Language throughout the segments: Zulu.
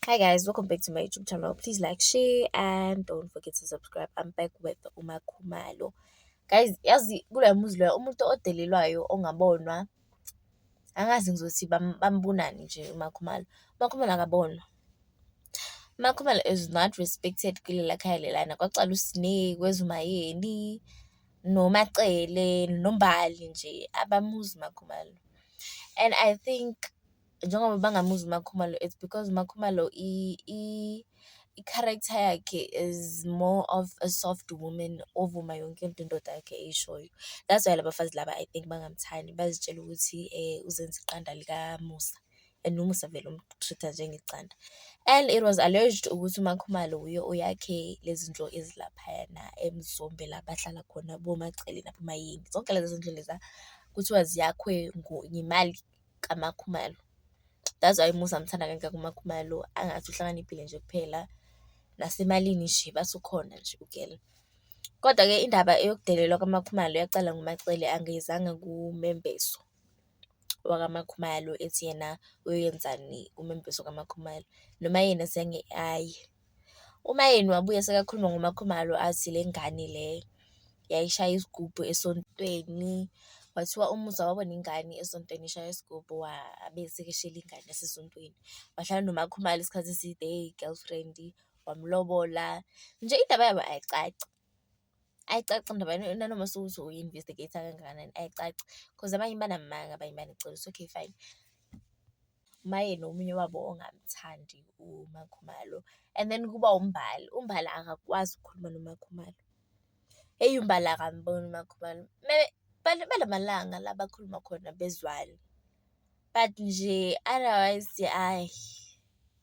Hi guys, welcome back to my YouTube channel. Please like, share, and don't forget to subscribe. I'm back with Uma Khumalo. Guys, yazi kula muzi loya umuntu odelelwayo ongabonwa angazi ngizothi bam- bambonani nje uMakhumalo. UMakhumalo akabonwa. UMakhumalo is not respected kulela khaya lelana kwacala uSine, kwezumayeni, noMacele, noMbali nje abamuzi uMakhumalo. And I think njengoba bangamuzi uMakhumalo it's because uMakhumalo i-character yakhe is more of a soft woman ovuma yonke into indoda yakhe eyishoyo. That's why labafazi laba I think bangamthandi bazitshela ukuthi uzenza iqanda likamusa and umusa vele umu-treat-a njengecanda. And it was alleged ukuthi uMakhumalo wuye oyakhe lezi ndlu ezilaphayana eMzombela abahlala khona boMacele naboMayeni. Zonke lezi zindlu leza kuthiwa ziyakhwe yimali kaMakhumalo. That's why umuzi angithanda kangaka uMakhumalo, angathi uhlakaniphile nje kuphela, nasemalini nje bathi ukhona nje ugel. Kodwa-ke indaba eyokudelelwa kaMakhumalo yaqala nguMaCele angeyizanga kuMembeso wakaMakhumalo ethi yena uyoyenzani uMembeso kaMakhumalo, noma yena zange aye. Umayeni wabuye sekakhuluma ngoMaKhumalo athi le ngane le yayishaya isigubhu esontweni. Kwathiwa umuzi awabona ingane esontweni ishaya isigubhu wabe esekeshela ingane yasesontweni. Wahlala noMaKhumalo isikhathi eside eyi-girlfriend, wamulobola. Nje indaba yabo ayicaci, ayicaci indaba nanoma sewuthi uyi-investigate-a kangakanani ayicaci. Cause abanye banamanga abanye baneqiniso okay fine. maye nomunye wabo ongamthandi uMaKhumalo and then kuba uMbali, uMbali akakwazi ukukhuluma noMaKhumalo. Eyi uMbali akamboni uMaKhumalo balamalanga la bakhuluma khona bezwani but nje otherwise ayi.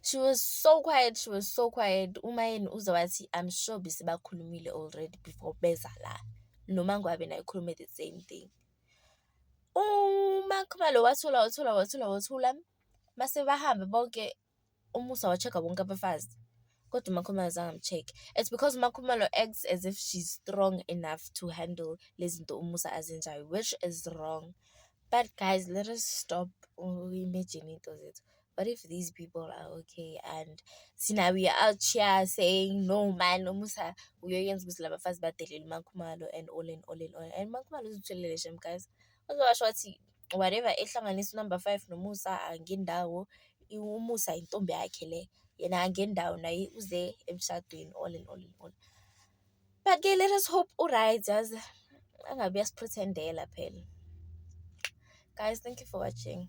She was so quiet, she was so quiet. Umayeni uze wathi I'm sure besebakhulumile already before beza la. Noma ngabe naye ukhulume the same thing. UMakhumalo wathula wathula wathula wathula. Mase bahambe bonke uMusa wa-check-a bonke abafazi. Kodwa uMakhumalo azange amu-check-e. It's because uMakhumalo acts as if she's strong enough to handle lezi zinto uMusa azenzayo which is wrong. But guys, let us stop imagining into zethu. What if these people are okay and sina we are out here saying no man umusa uyoyenza ukuthi laba bafazi badelele umakhumalo and all and all and all and umakhumalo uzitholele shem guys uzowasho wathi whatever ehlanganisa unumber five nomusa angendawo umusa intombi yakhe le yena angendawo naye uze emshadweni all and all and all But ke let us hope uryt yazi angabe uyasiprithendela phela. Guys thank you for watching.